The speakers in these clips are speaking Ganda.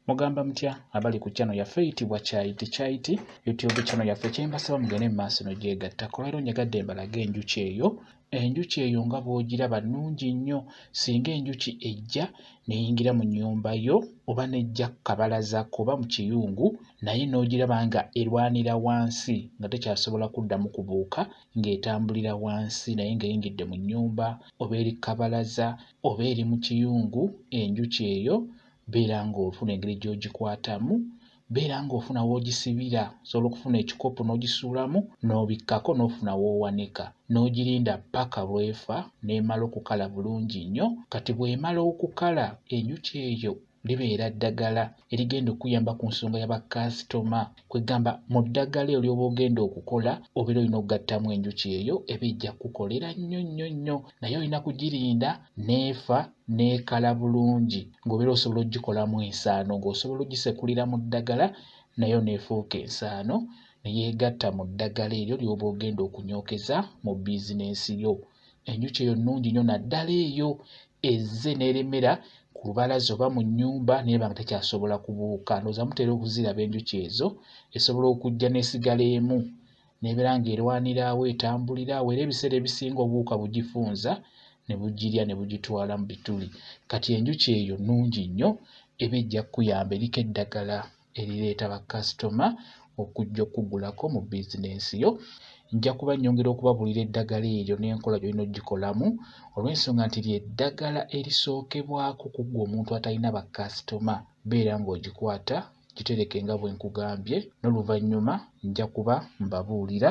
mugamba mutya abali ku channel yaffe eyitibwa kyayiti kyayiti youtube channel yaffe kyembasaba mugende mu maaso nogyegatta kubairo nyegadde embalaga enjuki eyo enjuki eyo nga bwogiraba nungi nnyo singa enjuki ejja neyingira mu nyumba yo oba nejja kukabalaza kuba mu kiyungu naye nogiraba nga erwanira wansi nga tekyasobola kuddamu kubuuka ng'etambulira wansi naye ng'eyingidde mu nyumba oba eri kukabalaza oba eri mu kiyungu enjuki eyo beera ng'ofuna engeri gy'ogikwatamu beera ng'ofuna w'ogisibira osobola okufuna ekikopo n'ogisuulamu n'obikkako n'ofuna w'owanika n'ogirinda ppaka lwefa n'emala okukala bulungi nnyo kati bw'emala okukala enjuki eyo libeera ddagala erigenda okuyamba ku nsonga ya bakasitoma kwegamba mu ddagala eyo lyoba ogenda okukola obeera olina okugattamu enjuki eyo eba ejja kukukolera nnyo nnyo nnyo naye olina kugirinda n'efa n'ekala bulungi ng'obeera osobola okugikolamu ensaano ng'osobola ogisekulira mu ddagala nayo n'efuuka ensaano ne yeegatta mu ddagala eryo ly'oba ogenda okunyookeza mu bizinensi yo. Enjuki eyo nnungi nnyo naddala eyo ezze n'eremera ku lubalaza oba mu nnyumba naye banga tekyasobola kubuuka ndowooza mutera okuziraba enjuki ezo esobola okujja n'esigala emu n'ebeera ng'erwanira awo etambulira awo era ebiseera ebisinga obuwuka bugifunza ne bugirya ne bugitwala mu bituli kati enjuki eyo nnungi nnyo eba ejja kukuyamba eriko eddagala erireeta bakasitoma okujja okugulako mu bizinensi yo nja kuba nnyongera okubabuulira eddagala eryo n'enkola gy'olina okugikolamu olw'ensonga nti ly'eddagala erisookebwako ku ggwe omuntu atalina bakasitoma beera ng'ogikwata gitereke nga bwe nkugambye n'oluvannyuma nja kuba mbabuulira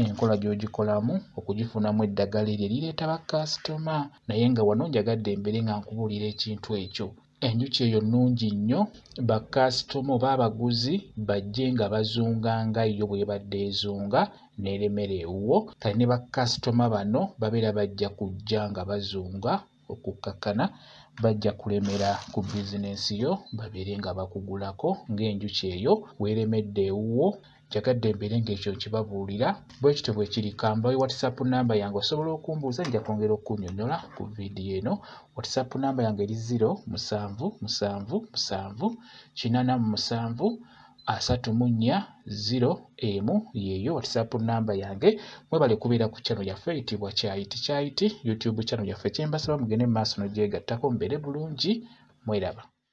enkola gy'ogikolamu okugifunamu eddagala eryo erireeta bakasitoma naye nga wano njagadde mbeere nga nkubuulira ekintu ekyo enjuki eyo nnungi nnyo bakasitoma oba abaguzi bajje nga bazunga nga yo bw'ebadde ezunga n'eremera ewuwo kale ne bakasitoma bano babeera bajja kujja nga bazunga okukkakkana bajja kulemera ku bizinensi yo babeere nga bakugulako ng'enjuki eyo weeremedde ewuwo njagadde mbeere ng'ekyo nkibabuulira bwe kityo bwe kiri kambawe whatsapp namba yange osobola okumbuuza nja kwongera okukunyonyola ku vidiyo eno whatsapp namba yange eri 0 musanvu musanvu musanvu kinana mu musanvu asatu mu nnya ziro emu yeeyo whatsapp namba yange mwebale kubeera ku channel yaffe eyitibwa kyayiti kyayiti youtube channel yaffe kyembasaba mugende mu maaso nogyegattako mubeere bulungi mweraba